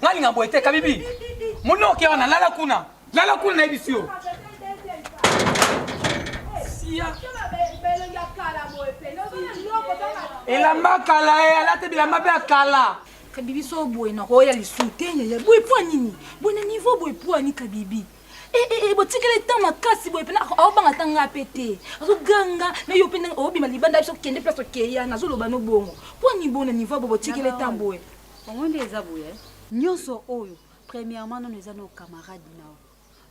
Nga linga boye te kabibi. Mona oke wana lala kuna. Lala kuna na yebisi yo. Elamba kala ye eh, alati bilamba mpe ya kala. Kabibi so boye na koya lisu te yaya. Boye po nini? Boye na niveau boye po ni kabibi. Eh, eh, eh, botikeli ntan makasi boye mpena aobanga ata ngai mpe te azoganga me yo mpe ndenge obima libanda biso kende place okeya nazoloba no bongo mpo ani bona nivo bo botikeli ntan boye Congo nde eza boye. Nyonso oyo premièrement nono eza no camarade nao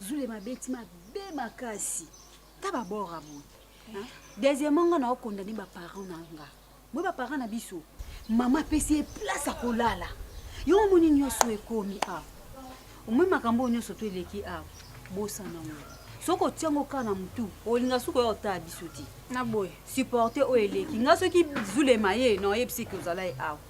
zule mabeti mabe makasi ta babora boye deuxièmement nga nao condamne baparent na nga boye baparent na biso mama apesi ye place akolala yo omoni nyonso ekomi awa omoni makambo oyo nyonso to eleki awa bosana ngo soki otia ngo kaka na motu olinga suka oya otala biso te na boye supporte oyo eleki nga soki zulema ye na oyebisi eke ozala ye awa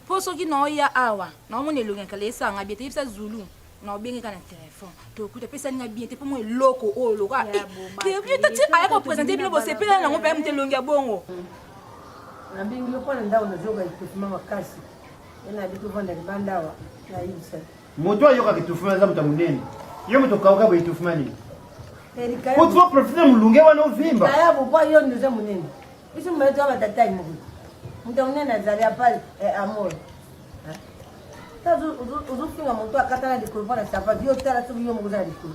mpo soki naoya awa naomona elongi ya kala esanga bie teyebisa zulu naobengeka na telefone tokuta pesani na bien te mpo mwa eloko oyo loka tati aya kopresente bino bosepela nango mpe moto elongi ya bongo nabengi yo mpo na ndako nazoyoka ekosima makasi ena yabi tovanda libanda awa nayebisa Moto ayoka kitufuma aza moto munene. Yo moto kauka boye kitufuma nini? Erika. Ko trop profiter mulunge wana ovimba. Kaya bokwa yo ndoza munene. Biso mbele to batata ni moko. Moto munene azali apa eh, amor. Tazo uzofinga moto akatana likolo pona sapatu yo tala soki yo moko za likolo.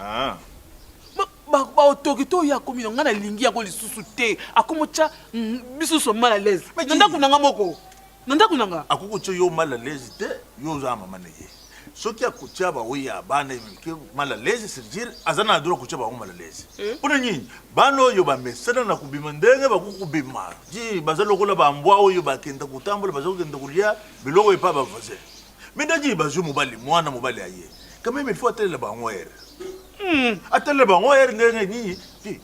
Ah. baotoki to oyo akomi na ngai nalingi yango lisusu te akomi otya mm, biso nyonso mal à l'aise Mais na ndako na ngai moko na ndako na ngai akoki kotya yo mal à l'aise te yo oza na mama na ye soki akotya baoyo ya bana emilike mal à l'aise c'est dire aza na droit kotya bango mal à l'aise Eh? mpo na nini bana oyo bamesana na kobima ndenge bakoki kobima ti baza lokola bambwa oyo bakenda kotambola baza kokenda kolya biloko epa bavoisin Mais Daddy bazwi mobali mwana mobali aye. Quand même il faut atalela bango er. Hmm, atalela bango er ndenge nini? Ti.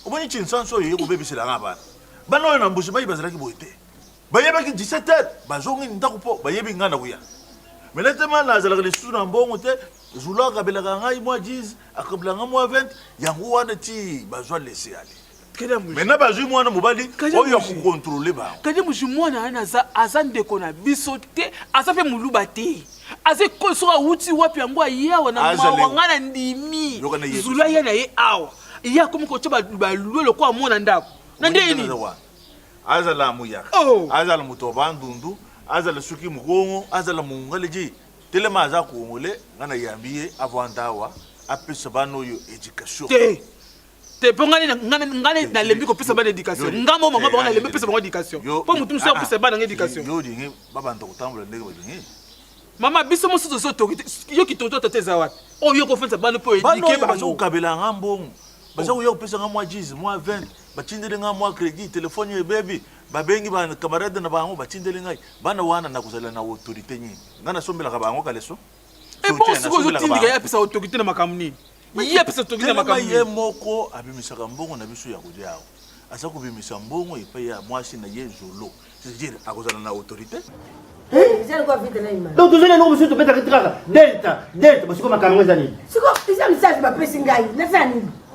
Omoni Chinsanso oyo ekobebisela nga bana. Bana oyo na mbuji mayi bazalaki boye te. Bayebaki 17 heures bazongi ndako po bayebi nga na kuya. Mais na tema nazalaka lisusu na mbongo te, Zula akabelaka ngai mwa 10, akabelaka ngai mwa 20, yango wana ti bazwa laisser aller. maintenant bazwi mwana mobali oyo akokontrole bango kadi mozwi mwana wana aza ndeko na biso te aza mpe moluba te aza ekolo soki awuti wapi yango aye awa na mawa ngai na ndimi zula ye na ye awa ye akomi kotya balue lokola mwana ndako na ndenge nini azala muyaka oh. azala moto ya bandundu azala soki mokongo azala mongale je telema aza kongole ngai nayambi ye avanda awa apesa bana oyo education te te mpo ngai ngai nalembi kopesa bana éducation ngai mo mama bango nalembi kopesa bango éducation mpo motu mosusu akopesa bana ngai éducation yo olingi babanda kotambola ndenge balingi mama biso mosusu tozo toki te yo kitoto tata eza wapi oyo yo kofandisa bana mpo éduke bazo kokabela yanga mbongo baza oh. koya kopesa nga mwa 10 mwa 20 batindeli nga mwa crédit telefone yo ebebi babengi bakamarade na bango batindeli ngai bana wana nakozala na autorité nini ngai nasombelaka bango kaleso ebongo eh, soki ozotindika ye apesa otoki te na makambo nini ye apesa otoki te na makambo nini ye moko abimisaka mbongo na biso ya kolia awa aza kobimisa mbongo epai ya mwasi na ye zolo c'est-à-dire akozala na autorité donc tozali yango mosusu tobetaka kaka delta delta basiko makambo eza nini siko eza misasi bapesi ngai naza nini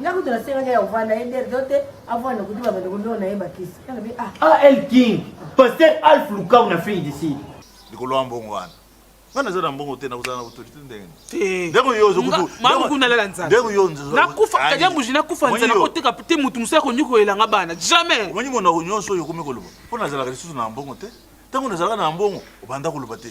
nga kutu nasengaki ya kovanda ye der do te avanda kutu babanda kolona ye bakisi alobi ah ah el king pasteur alf lukau na fei desi likolo ya mbongo wana nga naza na mbongo te nakozala na autorité ndenge nini ndeko yo ozokutu mama kuna lala nzala ndeko yo nzala nakufa kadia mbuji nakufa nzala koteka te mutu musala ko nyuko elanga bana jamais omanyi mona ko nyonso yo komi koloba mpo nazalaka lisusu na mbongo te ntango nazalaka na mbongo obanda koloba te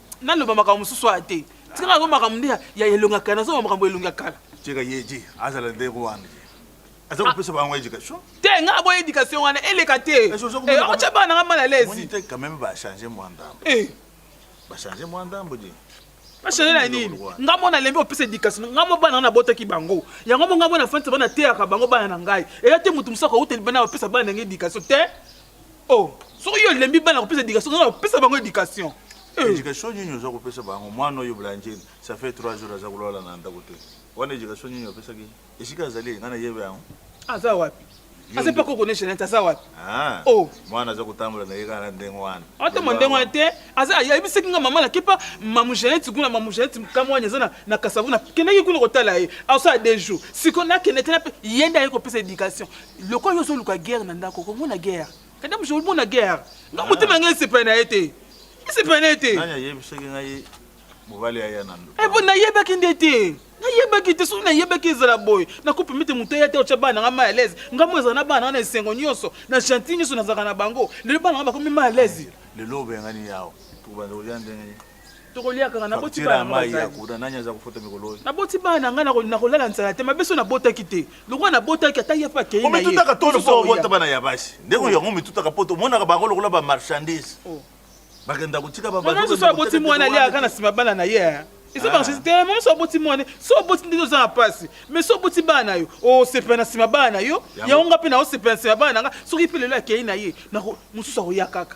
naloba makambo mosusu aya te tika nazo makambo nde ya elongi ya kala nazoloba makambo elongi ya kala tika ye ti azala nde rwanda aza kopesa bango education te nga aboya education wana eleka te okotya bana nanga mal alaise te quand même bachange mwa ndambo bachange mwa ndambo di bachange na nini nga mwana alembi opesa education nga mwa bana nga nabotaki bango yango mo nga mwana fantisa bana teyaka bango bana na ngai eya te motu mosusu akouta libana opesa bana na ngai education te Oh, soki yo olembi bana kopesa education, nga kopesa bango education. Eh. Education nini oza kopesa bango? Mwana oyo Blanche, ça fait 3 jours aza kolala na ndako te. Wana education nini opesaki? Esika azali, nga nayebi yango. Aza wapi? Aza pe ko connaître net, aza wapi? Ah. Oh. Mwana aza kotambola na ye kaka na ndenge wana. Ata mwa ndenge wana te, aza ayebisaki nga mama na kepa mamu Jeanette kuna mamu Jeanette kama wana eza na na Kasavu na kendaki kuna kotala ye. Asala 2 jours. Siko na kende tena pe yenda ye kopesa education. lokola yo ozoluka guerre na ndako okomona guerre kanda mosu omona guerre nga motema ngai esepela na ye te esepela na ye te nani ayebisaki ngai mobali aya na ndo ebo eh, nayebaki nde te nayebaki te soki nayebaki ezala boye nakopemi te moto eya te otya bana nanga mal alaise ngai mo ezala na bana nanga na esengo nyonso na gentil nyonso nazalaka na bango lelo bana nanga bakomi mal alaise lelo obengani yawa tobanda kolia ndenge tokolia kaka naboti bana na ngai nakolala nzala te mabe so nabotaki te lokola nabotaki ata ye mpe akei na yemitutaka to lokola obota bana ya basi ndeko oh. yango mitutaka mpo tomonaka bango lokola bamarchandise oh. bakenda kotika babaoso aboti mwana aliaka na nsima bana na ye eh. eza bamarchandise ah. te mama so aboti mwana so oboti ndenge oza na mpasi mais so oboti bana na yo osepela oh, na nsima bana na yo yango nga mpe naosepela na nsima bana na nga soki mpe lelo akei na ye mosusu akoya kaka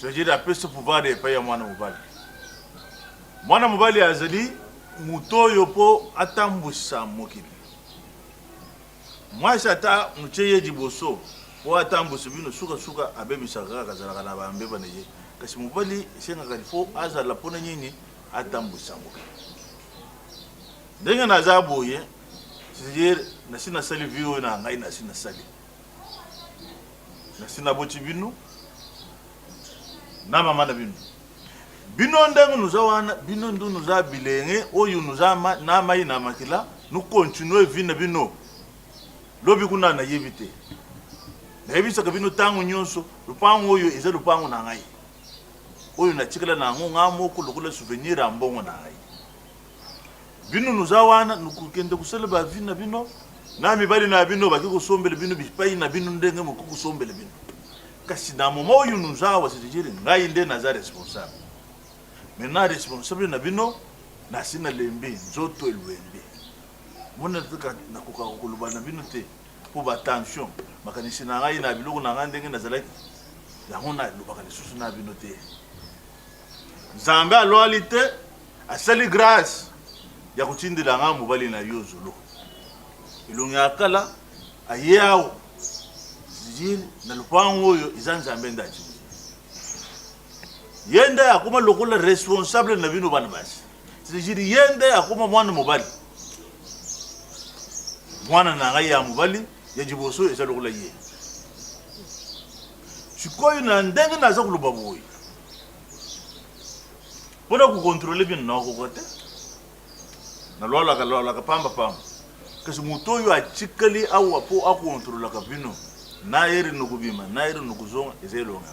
Cetadire apesi pouvoir epai ya mwana mobali. Mwana mobali azali moto oyo mpo atambwisa mokili. Mwasi ata motye ye liboso mpo atambwisa bino, sukasuka abebisaka kaka, azalaka na bambeba na ye. Kasi mobali esengaka lifo azala mpo na nini? Atambwisa mokili. Ndenge naza boye, cetadire nasi nasali vie oyo na ngai nasi nasali nasi naboti bino na mama na bino bino ndenge nuza wana bino ndu nuza bilenge oyo nuza ma, na mai na makila nu continue vi na bino lobi kuna nayebi te nayebisaka bino ntango nyonso lopango oyo eza lopango na ngai oyo natikala na yango ngai moko lokola souvenir ya mbongo na ngai Bino noza wana nokokende kosala ba vie na bino na mibali na bino baki kosombele bino bipai na bino ndenge mokoki kosombele bino kasi na moma oyo noza awa cetadire ngai nde naza responsable maintenant responsable na bino nasi na lembi nzoto elwembi mona kaka nakoka koloba na bino te mpo batension makanisi na ngai na biloko na ngai ndenge nazalaki yango nalobaka lisusu na bino te nzambe alwali te Asali grace ya kotindela nga mobali na yo zolo elongi ya kala aye awa na lopango oyo eza nzambe nde atindi ye nde akoma lokola responsable na bino bana basi cetadire ye nde akoma mwana mobali mwana na ngai ya mobali ya liboso eza lokola ye sikoyo na ndenge naza koloba boye Mpo na kokontrole bino nakokoka te, nalwalaka lwalaka pamba pamba, kasi moto oyo atikali awa mpo akontrolaka bino na ere nokobima na ere nokozonga eza elonga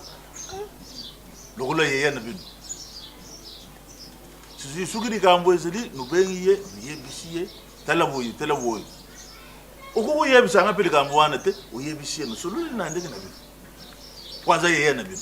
lokola yeya na bino soki likambo ezali nobengi ye noyebisi ye tala boye tala boye okoki oyebisanga mpe likambo wana te oyebisi ye nosololi na ndenge na bino mpo aza yeya na bino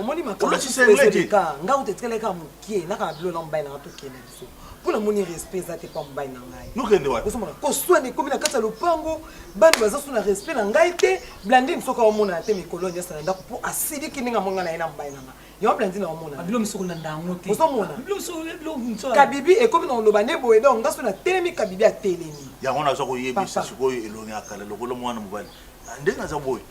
omoni makamboekaa nga uta etikala kaka mokie na kaka bilo na mobali nanga tokende biso mpo namoni respect eza te mpo ya mobali na ngaiozomona koswana ekomi na kati ya lopango bana baza so na respect na ngai te blandine soki aomonana te mikolo nyasa na ndako mpo asiliki ndenge amonga na ye na mobali na ngai yango blandine aomonakabibi ekomi na koloba nde boye donc nga so natelemi kabibi atelemi yango naza koyebisa sikoyo elongi ya kala lokola mwana mobali ndenge aza boye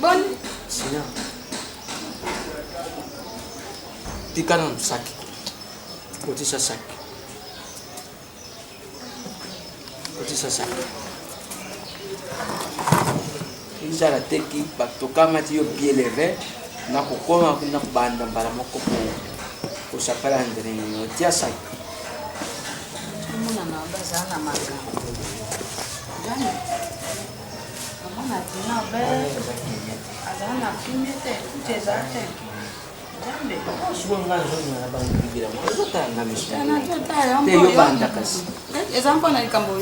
Boni? Sinon. Tika na msaki. Kotisa saki. Kotisa saki. Izala teki bato kamati yo bien leve na kokoma kuna kobanda mbala moko po kosapela ndenge nini otia saki. Omona na bazala na makambo. Gani? eza mpo na likambo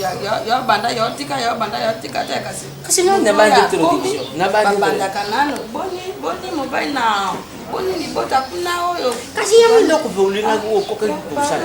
yo banda yo tika yo banda yo tika te kasi kasi nabandaka nano boni boni mobali na boni libota kuna oyo kasi yango eloko olingaki okokaki kosala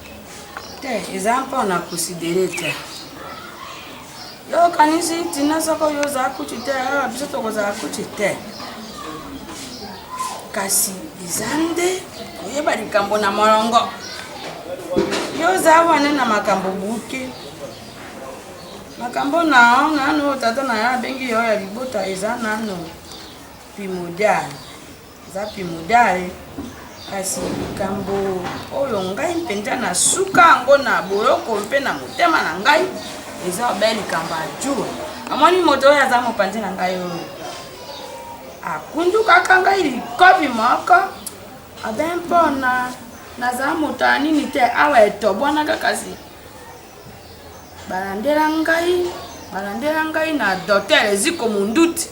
te eza mpona kosidere te yo okanisi tina soko yo ozala kutu te awa biso tokozala kutu te kasi eza nde koyeba likambo na molongo yo oza wana na makambo buke makambo na nano tata na yo abengi yo ya libota eza nano primodiale Zapi Mudal, kasi likambo oyo ngai mpenza na suka yango na boloko mpe na motema na ngai eza obe likambo ya jur amoni moto oyo aza mopanzi na ngai oyo akundukaka ngai likobi moko abe mpona naza moto ya nini te awa etobwanaka kasi balandela ngai balandela ngai na dotel eziko monduti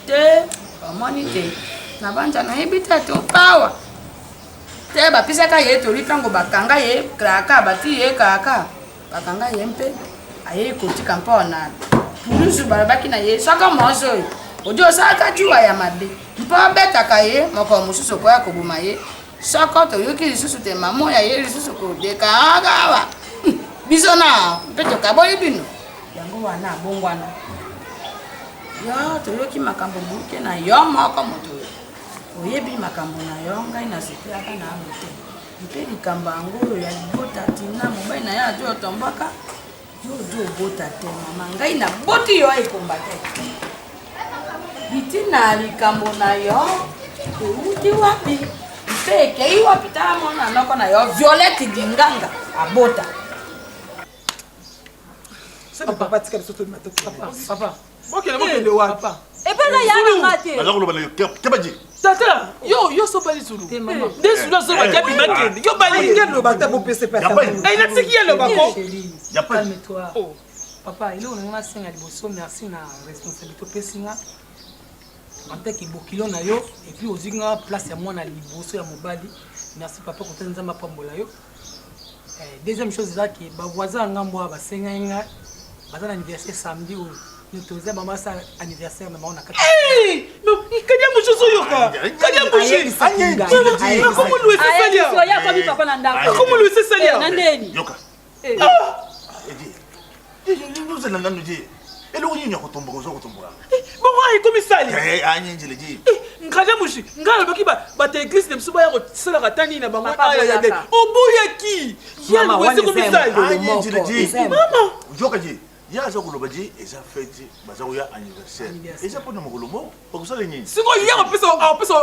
te bamoni te na banja nayebi te ati opawa te bapesaka ye toli ntango bakanga ye kraka bati ye kraka bakanga ye mpe ayei kotika mpo na pulusu balobaki na ye soko mozo oyo odi osalaka juwa ya mabe mpo abetaka ye mokolo mosusu okoya koboma ye Soko toyoki lisusu te mamo ya ye lisusu kodekaakawa biso na mpe tokaboli bino yango wana abongwana yo toyoki makambo buke na yo moko moto oyebi makambo na yo ngai nasepelaka na yango te mpe likambo yango oyo ya libota tina mobali na ye ajo otombwaka Yo ozo obota te mama, ngai naboti yo aye combattre. Bitina likambo na yo euti wapi mpe ekei wapi? Tala mwana noko na yo Violette Dinganga abota. Papa, papa, tika biso tolima te. Papa, papa. Bokende bokende eh, wapi? Epa na ya na ngate. Naza koloba na yo keba ji. Tata, yo yo so bali zulu. Te mama. Eh, Des zulu zo ba kabi eh, bakende. Yo bali. Ngende lo bata bo pese pa. Ai na tiki yelo ba ko. Ya pa. Calme toi. Oh. Papa, ile unanga senga liboso merci na responsabilité opesi nga. En tant que bokilo na yo et puis ozwi nga place ya mwana liboso ya mobali. Merci papa kotani nzambe apambola yo. Eh, deuxième chose eza ke bavoisin ya ngambo oyo basengaki nga baza na anniversaire samedi oyo notoza bango basala anniversaire na bango na kati kadia mushi ozoyoka kadia mushiakomolu esesaliaakomolu esesaliaa ozala nanu te eloko nini ya kotomboka oza kotomboka eh, bongo ayi komisali eh, eh, anyenjele ti nkaja mushi ngai alobaki bato ya eglise na biso baya kosalaka ata nini na bango ayayade oboyaki yangoezi komisalimama oyoka je ye aza koloba je eza fete baza koya anniversaire eza mpona mokolo moko bakosala nini sikoyo ye akopesa akopesa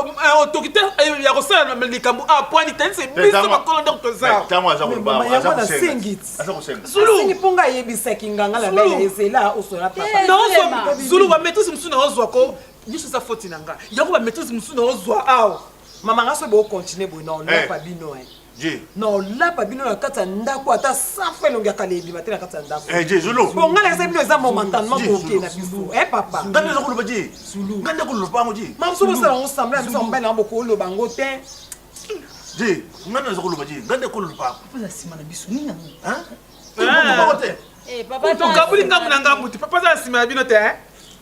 otoki te ya kosala likambo apwani te se biso bakolo ndako tozaasengi mpo ngai ayebisaki nganga na bele ezela osola papazulu bametrise mosusu na ozwa ko nyonso eza foti na ngai yango bametrise mosusu na ozwa awa mama ngai so bokontinue boye na olapa bino Je. Na olapa bino na kati ya ndako ata safu elongi ya kala ebima te na kati ya ndako. Eh je zulu. Bon ngana eza bino eza momentalement koke na biso. Eh papa. Ngana eza koloba je. Zulu. Ngana koloba ngo je. Mamu sobo sala ngo semblant biso mbali na boko loba ngo te. Je. Ngana eza koloba je. Ngana koloba. Papa za sima na biso nini yango? Hein? Eh papa. Tukabuli ngambu na ngambu te. Papa za sima na bino te. Eh?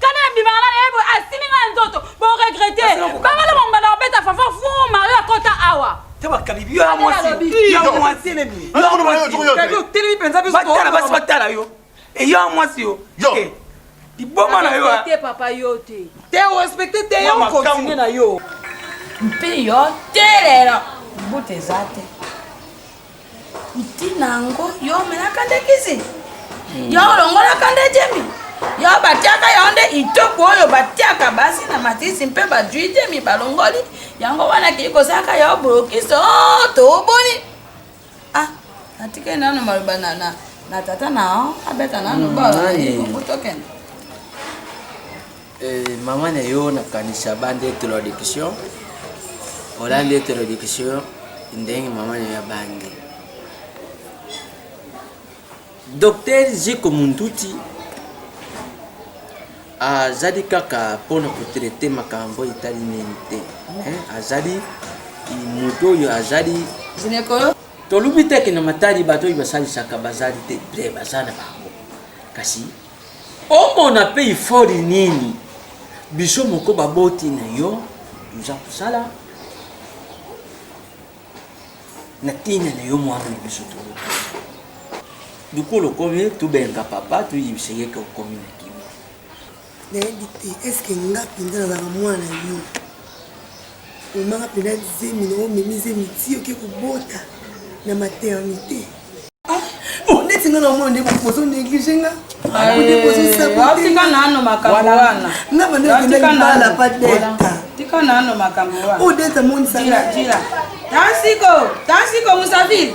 Kana na bima na yebo asimi nga nzoto bo regretter. Banga na mamba na beta fafa fu Mario akota awa. Taba kabibi ya mwasi. Ya mwasi ne bi. Ya mwasi. Kabibi telemi penza biso. Batala basi batala yo. E ya mwasi yo. Yo. Eh, liboma na yo. Te papa yo te. Te o respecter te yo continue na yo. Mpi yo telelo. Bute zate. ntina yango yo omelaka nde kisi yo olongolaka nde jemi yo batiaka yango nde itoko oyo batiaka basi na matisi mpe bajui jemi balongoli yango wana kei kozalaka yo bolokisi o oh, toboni ah natikeli nano maloba na, na, na tata na abeta nano mm, bala tokende Eh, maman na yo nakanisa bande introduction olandi introduction ndenge maman na yo abangi docteur ziko munduti azali kaka mpona kotraite makambo etali nini te azali moto oyo azali tolubi teke na matali bato oyo basalisaka bazali te bre baza na bango kasi Omona pe effort nini biso moko ba boti na yo toza kosala na tina na yo mwana na biso to dukulu okomi tobenga papa toyebisa ye ke okomi na kimia nayebi te eske nga mpenza nazalaka mwana yo Omaka pena zemi na omemi zemi ti oke kobota na maternité. Ah, oh, neti nga na omona nde bozo néglige nga. Tika nano makambo wana. Nga bande okenda libala pa delta. Tika nano makambo wana. Oh delta monisa. Jira, jira. Tansiko, tansiko musafiri.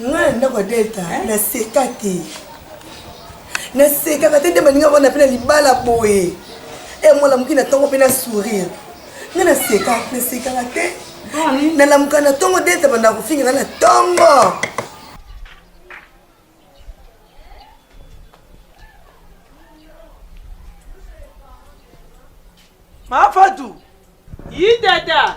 nga na ndako ya delta naseka te nasekaka te nde baninga wana mpe na libala boye e mwana moki na ntongo mpe na sourire nga naseka nasekaka te nalamuka na ntongo delta banda kofinga nga na ntongo mafatu yi tata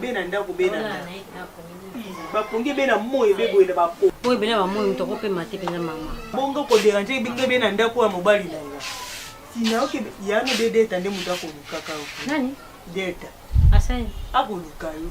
bena ndako bena bapongi bena moyi beboyela bapo oyo bena bamoyi moto akopema te mpenza mama bongo koderange ebinga bena ndako ya mobali na nga tina oke yano de deta nde moto akolukaka nani deta asani akoluka yo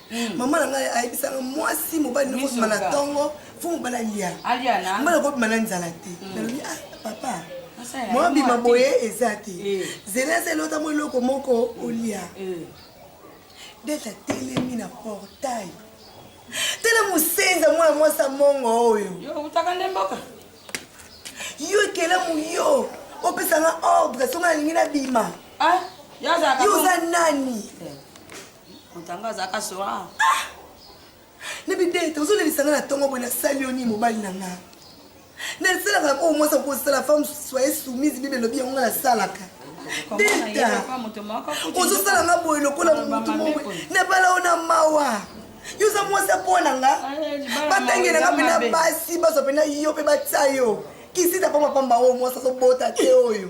Mm. mama na ngai ayebisaka mwasi mobali nokobima na ntongo fo mobali alia mobali akobima na nzala te mm. nalobi ah papa mwabima boye eza te eh. zela eza elota mo eloko moko olia eh. dete atelemi na portail tala mosenza mwana mwasi amongo oyo yo ekelamu yo opesanga ordre songa nalingi nabima ah, yo oza nani eh. moto yango azalaka sora ah! na bidete ozolelisa nga na ntongo boye nasali yo nini mobali na nga nasalaka yango oyo mwasi akosala femme soye soumise bible elobi yango nga nasalaka deta ozosala nga boye lokola motu moko nabala yo na mawa yo oza mwasi apona nga batangi na nga mpe na basi bazwa mpe na yo mpe batya yo kisita pamba pamba oyo mwasi azobota te oyo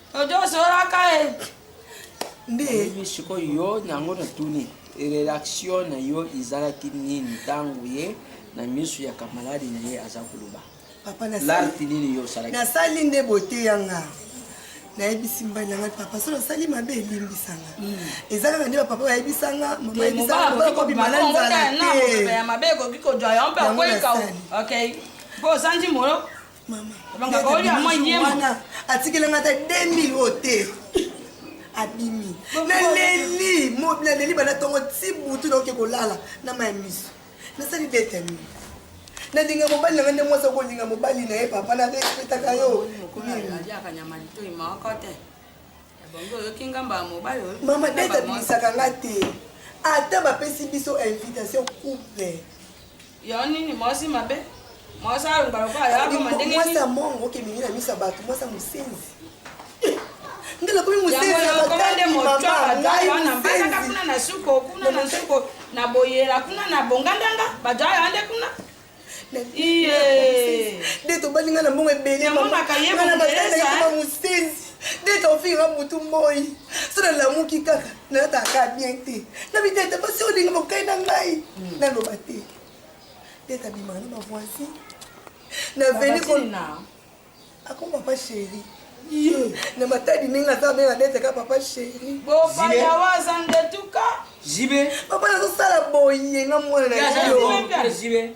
ojosoraka e nde sikoyo yo nango natuni relaxio na yo ezalaki nini ntango ye na miso ya kamaladi na ye aza koloba larti nini yo osalaki nasali nde bote ya nga nayebisi mbali na ngai papa soki nasali mabe elimbisa nga hmm. eza kaka nde bapapa bayebisa nga mama yebisa nga kobima na nzala te yango nasali mpo ozangi moyo wana atikeli nga ata 2000 oyo te abimi naleli naleli bana ntongo ti butu naoke kolala na mai miso nasali detami nalinga mobali na nga nde mwasi akolinga mobali na ye papa na respetaka yo mama dete abimisaka nga te ata bapesi biso invitation couple Yo nini mwasi mabe? Mwasi alongwa lokola ya mama ndenge nini? Mwasi ya mongo okemenge na miso ya bato, mwasi ya mosenzi. Ngai nakomi mosenzi ya batali mama, ngai mosenzi. Kuna na suko, kuna na suko, na boyela, kuna na bongandanga, bato ayo ande kuna. Iye. Nde tobali ngai na mbongo ebele mama, ngai na batali mama mosenzi. Dès que ofingi nga mutu moi, so na lamuki kaka na yaka ka bien te. Na bitete ba si olinga mokai na ngai hmm. na loba te. Dès que bima na ba voisin. Na veni ko na. Ako papa chéri. Ye, na matadi mingi na sa benga dès que papa chéri. Bo pa ya wazande tuka. Jibe. Papa na so sala boye nga mwana na yo. Jibe.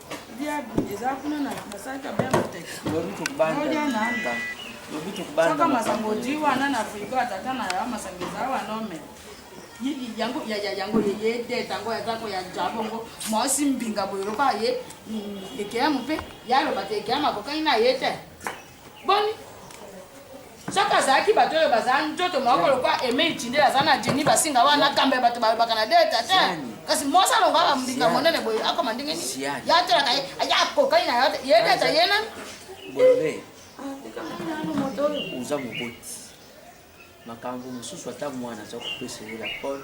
soka masango odi wana na frigo ya tata na ya masango eza wana ome yango yango yeye te tango ya tango ya jabongo mwasi mbinga boye lokola ye mm, ekeyamo mpe yaloba te ekeyamo akokani na ye te Boni? Soki azalaki bato oyo bazala nzoto moko lokola Aime Itindele aza na Jenny Basinga wana kamba ya bato balobaka na deta te. Kasi mwasi alonga ba mbinga monene boye akoma ndenge nini? Ya tolaka ye, ya kokani na yo te. Ye deta ye nani? Bolole. Oza moboti. Makambo mosusu ata mwana aza kopesa yo la pole.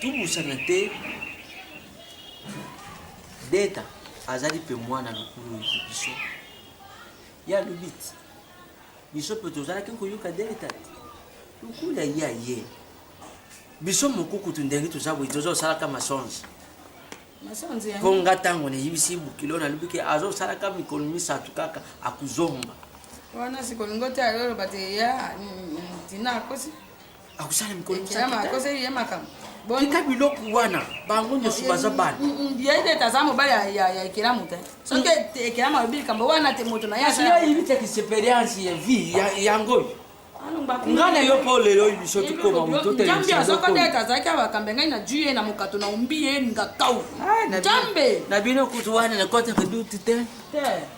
tobosana te deta azali mpe mwana lokulu oyo biso ya lobiti biso mpe tozalaki koyoka deta te lokula ye aye biso moko kutu ndenge toza boye tozosalaka masonge mpo nga ntango nayebisi bokilo nalobi ke azosalaka mikolo misato kaka akozonga wana sikolingo te ayoloba te ya ntina akosi akosala mikolo tika biloko wana bango nyonso baza bana yete taza mobali ya ekelamu te soki ekelamu alobi likambo wana te moto na yeyebi te experience ya vie yango oyo ngai na yo mpo lelo oyo biso tokoma mototeambe azokota ete azalaki abakambe ngai na juye na mokato na ombi ye ngakau njambe na bino kutu wana nakotaka duti te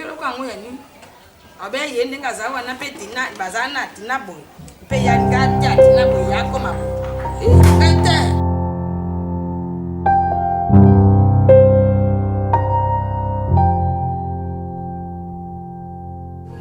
eloko yango ya nini abe ye ndenge aza wana mpe tina baza na tina boye mpe ya ngati ya tina boye yakoma boye te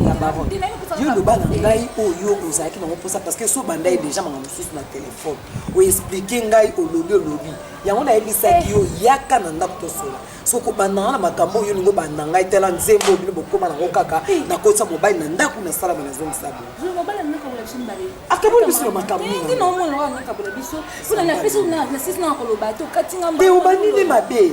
ya baron yo loba na ngai oyo ozalaki nango mposa parce que so bandai déjà makambo mosusu na telefone oexplike ngai olobi olobi yango nayebisaki yo yaka na ndako tosola soko bandanga na makambo oyo ningo banda ngai tala nzembo bino bokoma nango kaka nakotisa mobali na ndako nasalama nazongisa bo akaboli biso na makambo nini te obandi nde mabe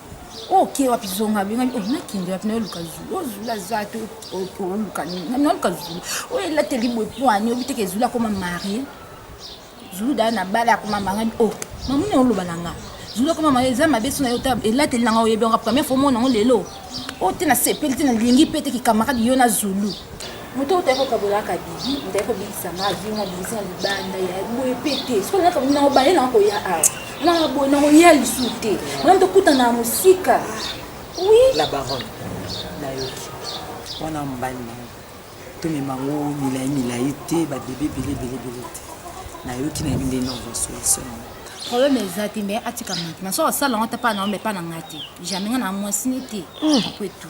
oke wapi zonga bengami oh, nakende wapi naoluka zulu oyo zulu aza te oluka nini naoluka zulu oyo elateli boye poani obi teke zulu akoma marie zulu daa na bala akoma mangani o oh, mamuni oloba na nga zulu akoma marie eza mabe so na yo ta elateli na nga oyebi yanga première fois omona yango lelo oyo oh, te nasepeli te nalingi mpe te kikamarade yo na zulu moto oyo otaki kokabolaka bibi otaki kobikisa nga vi nga bibisi na libanda ya boye mpe te soki naka na obale na koya awa na boye na koya lisusu te wana tokutana na mosika oui la baronne nayoki wana mobali na yo tomema yango milai milai te babebe ebele ebele ebele te nayoki na yebi nde nova solution problème eza te mais atika mati na soki asala yango ata mpa na yo me mpa na ngai te jamais nga na mwasini te apo etu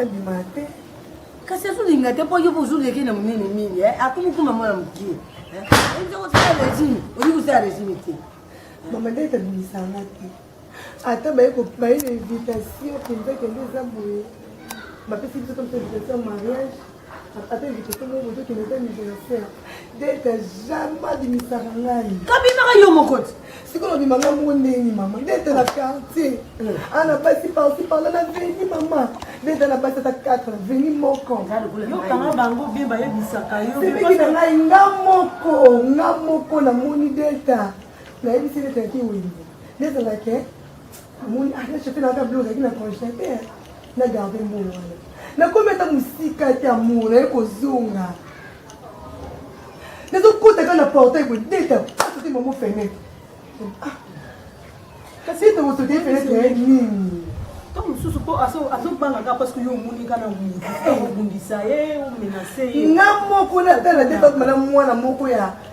abima te kasi azolinga te mpo yo mpo ozoleki na monene mingi eh? akumukuma mwana mokie ezakosala eh? regime olingi kosala regime te mama nde etabimisanga te ata baye na invitation mpenza kende eza boye bapesi biso comme invitation mariage kabimaka yo moko ti sikoyo obima nga moko ndeni mama ndete na quartier hmm. ana ah, basi parti parla na veni mama ndete na basi ata 4 veni moko yokanga bango bie bayebisaka yoepeki na ngai nga moko nga moko namoni delta nayebisi delta ki wenze delta nake omoni ata chape na ata blo ozalaki na congene te na garde mbongo wana nakomi ata mosika te amour naye kozonga nazokota kaka na portail boye deta asoki ah, mamo fenetre ah. kasi ete okosoki ye fenetre ya nini to mosusu mpo azobanga nga parceke yo omoni nga na obundisa ye omenase ye nga moko natala te tokoma na mwana moko ya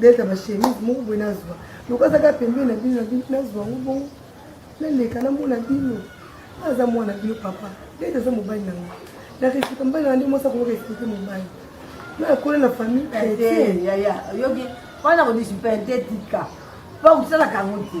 Delta ba chemise moko boye nazwa lokola azaka pembeni na bino na bino nazwa yango bongo naleka namona bino aza mwana bino papa Delta aza mobali na ngai na respecte mobali na nde mwasi akoki respecte mobali na akola na famille chrétienne yaya oyoki wana kodisipente tika mpo kosalaka yango te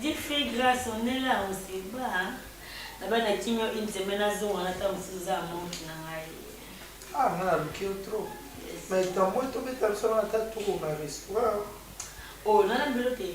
Diffie grâce on est là on se bat. Naba na kimio une semaine azonga na tango mosusu za montre na ngai. Ah nga na luki yo trop. Mais tamboy tobeta biso na ta tour na restaurant. Oh nana mbelo te.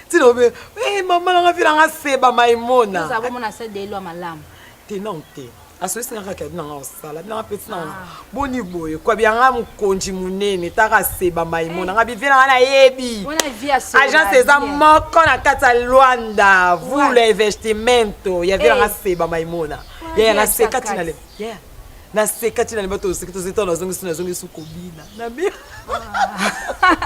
tina obe eh mama nanga vie nanga seba maimona oza bomona sa de loi malamu te non te asoyisi nanga kaka nanga osala nanga peti nanga ah. boni boye kwa bianga mokonji monene taka seba maimona eh. nga bivie nanga nayebi agence eza moko na kati ya luanda vous le investimento ya vie nanga eh. seba maimona yaya naseka tina le naseka tina le bato oseki tozeta nazongisi nazongisi kobina na ah.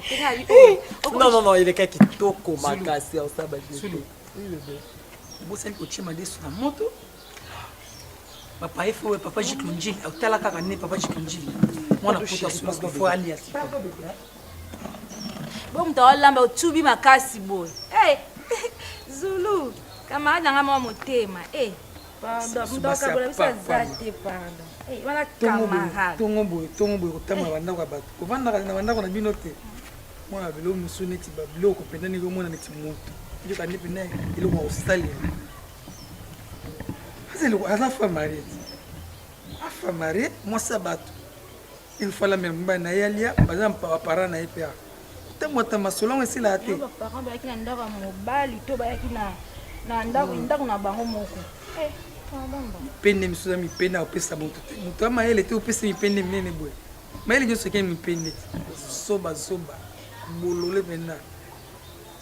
Non, non, non, il est quelqu'un qui toko makasi au sabbat. Sulu. Oui, bébé. Bosani kotie madesu na moto. Papa il faut papa Jiklonjili, otala kaka ne papa Jiklonjili. Mwana poto asula ko fo alia. Bo moto olamba otubi makasi boye. Eh. Zulu, camarade nanga mwa motema. Eh. tongo boye tongo boye kotanga bandako ya bato kovandaka na bandako na bino te mwana biloko mosusu neti babiloko mpenza ndenge omona neti moto yokande mpenza eloko ya kosalela aza famare afamare mwasi ya bato ilfala meme mobali na ye alia baza bapara na ye mpe ntango ata masolo yango esilaka te baparent bayaki na ndako ya mobali to bayaki na hmm. ndako na bango moko eh, mipende misusu ya mipende akopesa moto te moto ya mayele te opesa mipende minene boye mayele nyonso ekei mipende zobazoba bolole mpenza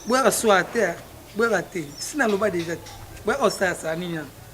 boyaka swaa te boyaka te si naloba deja te boyaka osalasala nini yango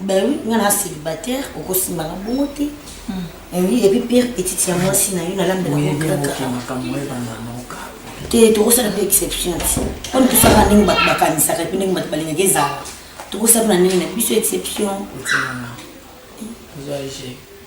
Ben oui, nga na célibataire, okosimba nga bongo te. Eh oui, et puis pire petite ya mwasi na yo nalambela ngo kaka. makambo oyo bananoka Te tokosala mpe exception ti. Comme tosala ndenge bato bakanisaka mpe ndenge bato balingaka ezala. Tokosala mpe na ndenge na biso exception. otinanga ozwa ege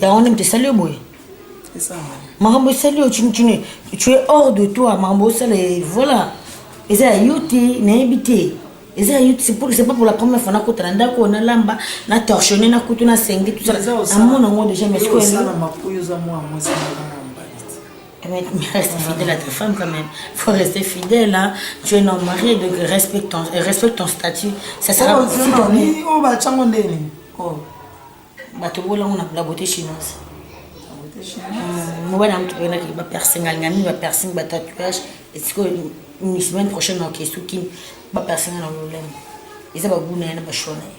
yango nde moto esali yo boye makambo esali yo chinichini tu es hors de toi makambo osala eh, voilà eza ya yo te nayebi te eza ya yo te c'est pas pour la première fois nakota na ndako oyo nalamba na torchonne na kutu na sengi tusala amona yango déjà mais Mais, mais reste fidèle à ta femme quand même. Faut rester fidèle, hein. Tu es un homme marié, donc respecte ton, euh, respecte ton statut. Ça sera Oh, c'est bon, ni- oh, bah, tchango ndeni. Oh. Bato bola on a la beauté chinoise. Mm, Mobali na moto pena ki ba piercing alinga mingi ba piercing ba tatouage esiko une semaine prochaine na okesu kin ba piercing na lolemo. Eza ba goût na ye na ba choix na ye.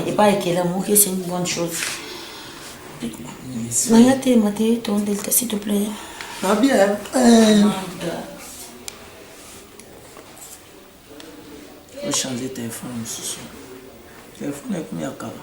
epa ekela moke c'est une bonne chose naya te mate tondelta s'il te plaît nabia ochange telefone mosusu telefone ekomi ya kala